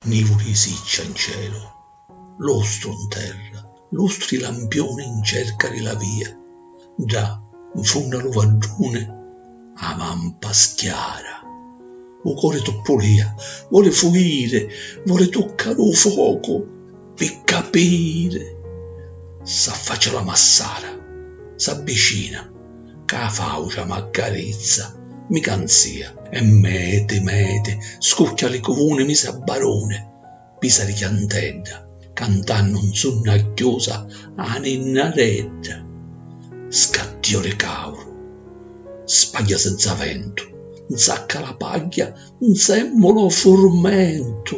Nivu di siccia 'n celu, lustru 'n terra, lustri lampiuni 'n cerca di la via, ddà 'n funnu a lu vadduni a vampa schiara, u cori tuppulìa, voli fuiri, voli tuccari u focu. Pi capiri s'affaccia la massara, s'abbicina, ca 'a faucia m'accarizza, mi canzia. E meti meti scucchia li cuvuni mi s'abbaruni, pisa li chiantedda, cantannu 'n sunna chiusa 'a ninnaredda. Scattio di cauru, spagghia senza ventu, 'nsacca la pagghia, 'nsemmula 'o furmentu.